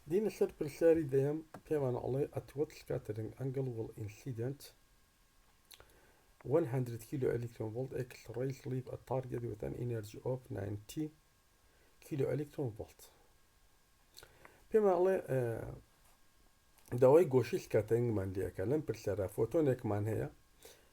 دینە سەر پرسیاری دەیەم پێمان ئەڵێ ئەتوەت سکاتەرنگ ئەنگڵ وڵ ئینسیدنت 100 کیلۆ ئەلیکترۆن ڤۆڵت ئێکس ڕەیس لیڤ ئە تارگێت وێت ئەن ئینێرجی ئۆف 90 کیلۆ ئەلیکترۆن ڤۆڵت پێمان ئەڵێ داوای گۆشی سکاتەرنگمان لێکە لەم پرسیارە فۆتۆنێکمان هەیە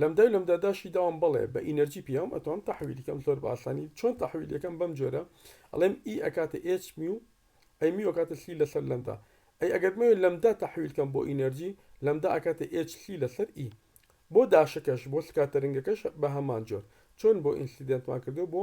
لەمدای و لەمدا داشی داوام بەڵێ بە ئینەرجی پیاوم ئەتوانم تەحویلی کەم زۆر بە ئاسانی چۆن تەحویلەکەم بەم جۆرە ئەڵێم ئی e ئەکاتە ئێچ میو ئەی میو ئەکاتە سی لەسەر لەمدا ئەی ئەگەر بمەوێ لەمدا تەحویل کەم بۆ ئینەرجی لەمدا ئەکاتە ئێچ سی لەسەر ئی e. بۆ داشەکەش بۆ سکاتەرنگەکەش بە هەمان جۆر چۆن بۆ ئینسیدێنتمان کردو بۆ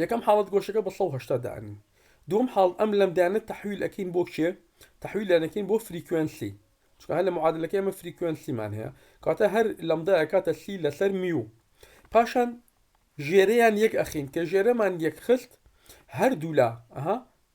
یەکەم حاڵەت گۆشەکە بە سەد و هەشتا دانی دوم حاڵ ئەم لەمدانە تحویل ئەکەین بۆ کێ تحویل لەنەکەین بۆ فریکوێنسی چونکە هەر لە معادلەکە ئەمە فریکوێنسیمان هەیە کاتە هەر لەمدا ئەکاتە سی لەسەر میو پاشان ژێرەیان یەک ئەخین کە ژێرەمان یەک خست هەردوولا ئەها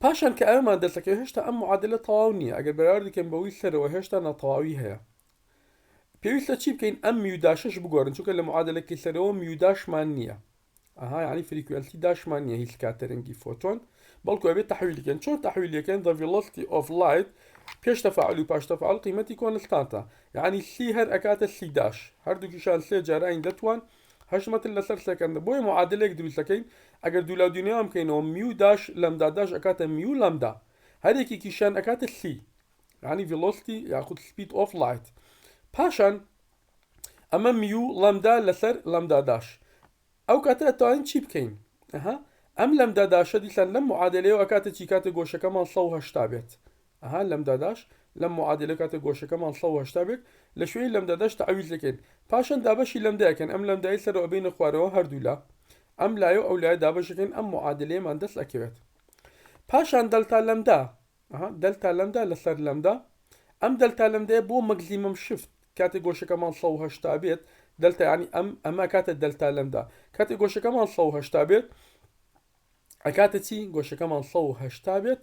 پاشان کە ئەوێمان دەرسەکەوێت هێشتا ئەم معادلە تەواو نییە ئەگەر بەراوردی کەین بە وی سەرەوە هێشتا ناتەواوی هەیە پێویستە چی بکەین ئەم میوداشش بگۆرن چونکە لە معادلەکەی سەرەوە میوداشمان نییە ئەها یعنی فریکوێنسی داشمان نییە هیچ کاتەرەنگی فۆتۆن بەڵکو ئەبێت تحویلکەن چۆن تحویلەکەن the velocity of light پێش تەفاعل و پاش تەفاعل قیمەتی کۆنستانتە یعنی سی هەر ئەکاتە سی داش هەردووکیشان سێ جاراین دەتوان هەشت مەتر لەسەر سێکەندە بۆیە معادلەیەک دروست دەکەین ئەگەر دوولاو دوینێوان بکەینەوە میو داش لەمدا داش ئەکاتە میو لەمدا هەر یەکێکیشیان ئەکاتە سی یانی ڤیلۆستی یاخود سپید ئۆف لایت پاشان ئەمە میو لەمدا لەسەر لەمدا داش ئەو کاتە ئەتوانین چی بکەین ئەها ئەم لەمدا داشە دیسان لەم معادلەیەوە ئەکاتە چی کاتە گۆشەکەمان 180 بێت ئەها لەمداداش لەم معادلە کاتێک گۆشەکەمان سەد و هەشتا بێت لە شوێنی لەمداداش تەعویز لەکەین پاشان دابەشی لەمدا ئەکەین ئەم لەمدایەی سەرەوە ئەبەینە خوارەوە هەردوو لا ئەم لایەو ئەو لایە دابەش ئەکەین ئەم معادلەیەمان دەست ئەکەوێت پاشان دەلتا لەمدا ئەها دەلتا لەمدا لەسەر لەمدا ئەم دەلتا لەمدایە بۆ مەگزیمم شفت کاتێک گۆشەکەمان سەد و هەشتا بێت دەلتا ینی ئەم ئەمە کاتە دەلتا لەمدا کاتێک گۆشەکەمان سەد و هەشتا بێت ئەکاتە چی گۆشەکەمان سەد و هەشتا بێت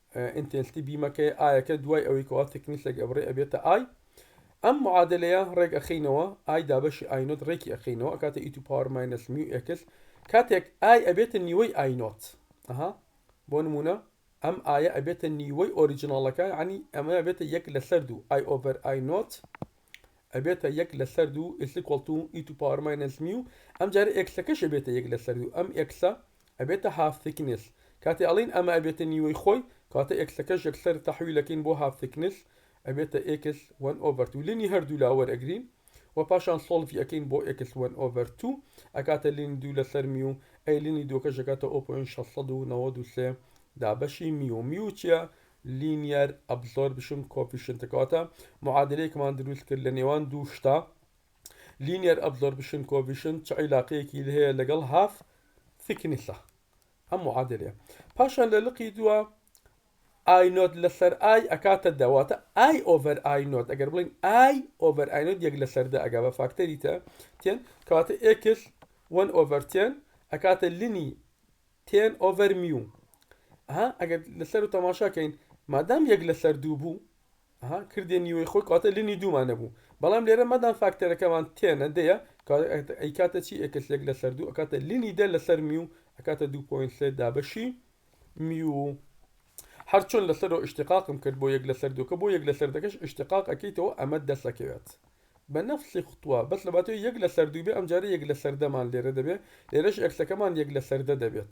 ئینتێلتی بیمەکەی ئایەکە دوای ئەوەی کەوا تەکنیسێک ئەبڕێ ئەبێتە ئای ئەم معادلەیە ڕێک ئەخینەوە ئای دابەشی ئاینۆت ڕێکی ئەخینەوە ئەکاتە ئی تو پاوەر ماینەس میو ئێکس کاتێک ئای ئەبێتە نیوەی ئاینۆت ئەها بۆ نمونە ئەم ئایە ئەبێتە نیوەی ئۆریجناڵەکە عنی ئەمە ئەبێتە یەک لەسەر دوو ئای ئۆڤەر ئای نۆت ئەبێتە یەک لەسەر دوو ئیسیکۆڵ تو ئی تو پاوەر ماینەس میو ئەم جارە ئێکسەکەش ئەبێتە یەک لەسەر دوو ئەم ئێکسە ئەبێتە هاف ثیکنس کاتێ ئەڵێین ئەمە ئەبێتە نیوەی خۆی کەواتە ئێکسەکەش یەکسەر تەحویل ئەکەین بۆ هاف ثیکنس ئەبێتە ئێکس وەن ئۆڤەر تو لینی هەردوولا وەرئەگرین و پاشان سۆڵڤی ئەکەین بۆ ئێکس وەن ئۆڤەر تو ئەکاتە لینی دوو لەسەر میو ئەی لینی دووەکەش ئەکاتە ئۆ پۆینت شەش سەد و نەوەد و سێ دابەشی میو میو چیە لینیەر ئەبزۆربشن کۆفیشنتە کەواتە معادلەیەکمان دروست کرد لە نێوان دوو شتە لینیەر ئەبزۆربشن کۆڤیشن چ عیلاقەیەکی هەیە لەگەڵ هاف ثیکنیسە ئەم معادلەیە پاشان لە لقی دووە ئای نۆت لەسەر ئای ئەکاتە دەواتە ئای ئۆڤەر ئای نۆت ئەگەر بڵین ئای ئۆڤەر ئای نۆت یەک لەسەر دە ئەگا بە فاکتەری تە تێن کەواتە ئێکس وەن ئۆڤەر تێن ئەکاتە لینی تێن ئۆڤەر میو ها ئەگەر لەسەر و تەماشاکەین مادام یەک لەسەر دوو بوو ئەها کردێ نیوەی خۆی کەواتە لنی دوومان دەبوو بەڵام لێرە مادام فاکتەرەکەمان تێنە دەیە کەواتە ئەیکاتە چی ئێکسلێک لەسەر دوو ئەکاتە لنی دە لەسەر میو ئەکاتە دوو پۆینت سێ دابەشی میو هەرچۆن لەسەرەوە ئشتقاقم کرد بۆ یەک لەسەر دووکە بۆ یەک لەسەر دەکەش ئشتقاق ئەکەیتەوە ئەمە دەسەکەوێت بە نەفسی خوتووە بەس لە باتەوە یەک لەسەر دوو بێ ئەمجارە یەک لەسەر دەمان لێرە دەبێت لێرەش ئەکسەکەمان یەک لەسەر دە دەبێت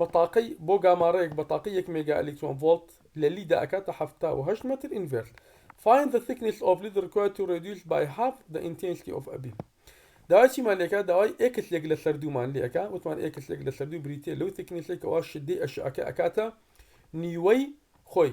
بەتاقەی بۆ گامارەیەک بەتاقەی یەک مێگا ئەلیکترۆن ڤۆڵت لە لیدا ئەکاتە حەفتا و هەشت مەتر ئینڤێرت Find the thickness of lead required to reduce by half the intensity of a beam داوای چیمان لێکا داوای ئێکس لێک لەسەر دوو مان لێکا وتمان ئێکس لێک لەسەر دوو بریتیە لەو ثیکنیسەی کەوا شدەی ئەشعەکە ئەکاتە نیوەی خۆی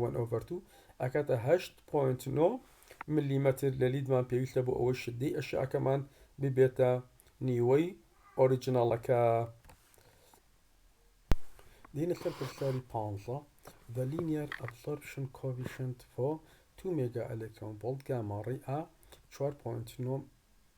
وەن ئۆڤەر تو ئەکاتە هەشت پۆینت نۆ ملیمەتر لە لیدمان پێویستە بۆ ئەوەی شدەی ئەشعەکەمان ببێتە نیوەی ئۆریجناڵەکە دینە سەر پرسیاری پانزە The linear absorption coefficient for 2 مێگا ئەلێکترۆن ڤۆڵت گاما ڕێی ئا 4.9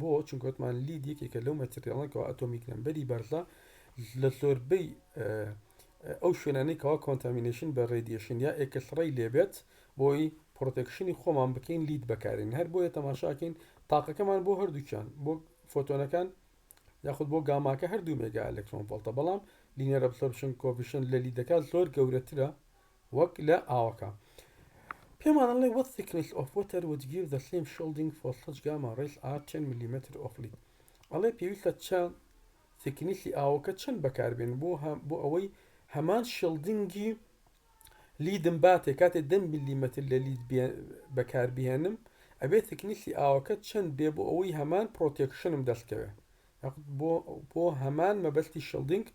بۆ؟ چونکە وتمان لید یەکێکە لەو مەتریاڵە کەوا ئەتۆمیک نەمبەری بەرزە لە زۆربەی ئەو شوێنانەی کەوا کۆنتامینشن بە ڕێدیشن یا ئێکسڕی لێبێت بۆی پرۆتەکشنی خۆمان بکەین لید بەکارین هەر بۆیە تەماشاکەین تاقەکەمان بۆ هەردووچان بۆ فۆتۆنەکان یاخود بۆ گاماکە هەردوو مێگا ئەلکترۆن فڵتە بەڵام لینەر ئەبسۆربشن کۆفیشن لە لیدەکە زۆر گەورەترە وەک لە ئاوەکە پێمان ئەڵێ وەت ثیکنس ئۆف وەتەر وت گیڤ دە سیم شۆڵدینگ فۆر سەچ گاما ڕیس ئار تێن ملیمەتر ئۆف لید ئەڵێ پێویستە چە ثیکنسی ئاوەکە چەند بەکاربێن بۆ بۆ ئەوەی هەمان شڵدینگی لیدم باتێ کاتێ دە ملیمەتر لە لید بەکاربهێنم ئەبێ ثیکنسی ئاوەکە چەند بێ بۆ ئەوەی هەمان پرۆتێکشنم دەستکەوێ هەق بۆ بۆ هەمان مەبەستی شڵدینگ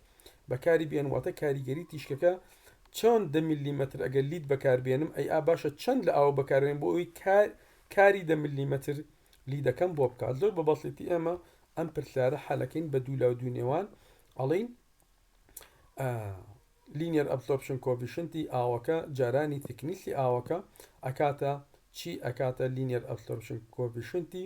بەکاری بێن واتە کاریگەری تیشکەکە چۆن دە مللیمەتر ئەگەر لیت بەکار بێنم ئەی ئا باشە چەند لە ئاوە بەکارێن بۆ ئەوی کار کاری دە مللیمەتر لیدەکەم بۆ بکات زۆر بە بەسیتی ئێمە ئەم پرسیارە حەلەکەین بە دوو لاو دوو نێوان ئەڵین لینیەر ئەبزۆرپشن کۆڤیشنتی ئاوەکە جارانی تکنیسی ئاوەکە ئەکاتە چی ئەکاتە لینیەر ئەبزۆرپشن کۆڤیشنتی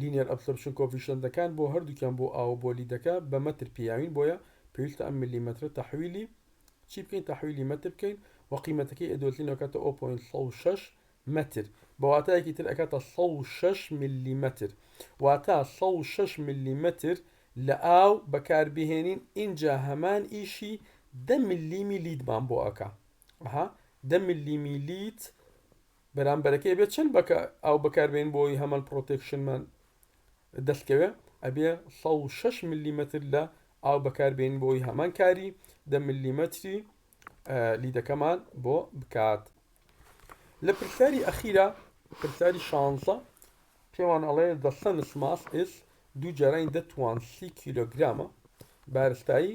لینیەر ئەبسۆرپشن کۆفیشەنتەکان بۆ هەردووکیان بۆ ئاو و بۆ لیدەکە بە مەتر پیاوین بۆیە پێویستە ئەم مللیمەترە تەحویلی چی بکەین تەحویلی مەتر بکەین و قیمەتەکەی ئەدۆلتین ئەکاتە ئۆ پۆینت سەد و شەش مەتر بە واتایەکی تر ئەکاتە سەد و شەش مللیمەتر واتا سەد و شەش مللیمەتر لە ئاو بەکاربهێنین ئینجا هەمان ئیشی دە مللیمی لیدمان بۆ ئەکا ئەها دە مللیمی لید بەرامبەرەکەی ئەبێ چەند بەکا ئاو بەکاربێنین بۆ ئەوەی هەمان پڕۆتێکشنمان دەستکەوێ ئەبێ سەد و شەش ملیمەتر لە ئاو بەکاربێنین بۆ ئەوەی هەمان کاری دە ملیمەتری لیدەکەمان بۆ بکات لە پرسیاری ئەخیرا پرسیاری شانزە پێوان ئەڵێ the sun's mass is دوو جارانی دەتوان سی کیلۆگرامە بارستایی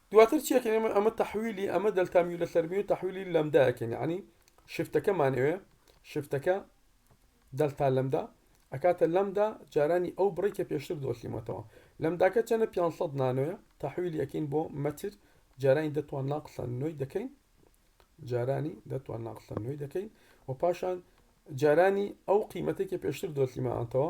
دواتر چی ئەکەین ئێمە ئەمە تەحویلی ئەمە دەلتا میو لەسەر میو تەحویلی لەمدا ئەکەین یعنی شفتەکەمان ئەوێ شفتەکە دەلتا لەمدا ئەکاتە لەمدا جارانی ئەو بڕی کە پێشتر دۆسیمەتەوە لەمداکە چەنە 500 نانۆیە تەحویلی ئەکەین بۆ مەتر جارانی دەتوان ناقسە نوۆی دەکەین جارانی دەتوان ناقسە نوێی دەکەین و پاشان جارانی ئەو قیمەتێکی پێشتر دۆسیمانتەوە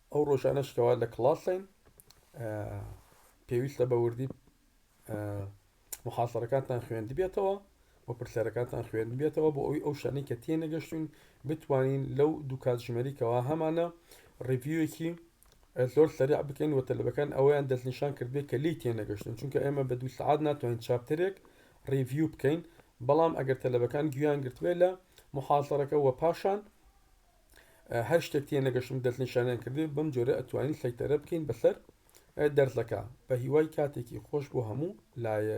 ئەو ڕۆژانەش کەوا لە کڵاسین پێویستە بە وردی محاسەرەکانتان خوێندبێتەوە و پرسیارەکانتان خوێندبێتەوە بۆ ئەوی ئەو شانەی کە تێنەگەشتون بتوانین لەو دوو کاتژمەریکەوە هەمانە ڕڤیوەکی زۆر سەرع بکەین و تەلبەکان ئەویان دەستنیشان کردێت کە لی تێنەگەشتن چونکە ئێمە بە دوو سعات ناتوانین چاپترێک ڕیڤیو بکەین بەڵام ئەگەر تەلبەکان گویان گرتبێت لە محاسەرەکە وە پاشان هەر شتێک تێ نەگەشتم دەستنیشانیان کردێ بەم جۆرە ئەتوانین سەیتەرە بکەین بەسەر دەرزەکە بە هیوای کاتێکی خۆش بۆ هەموو لایە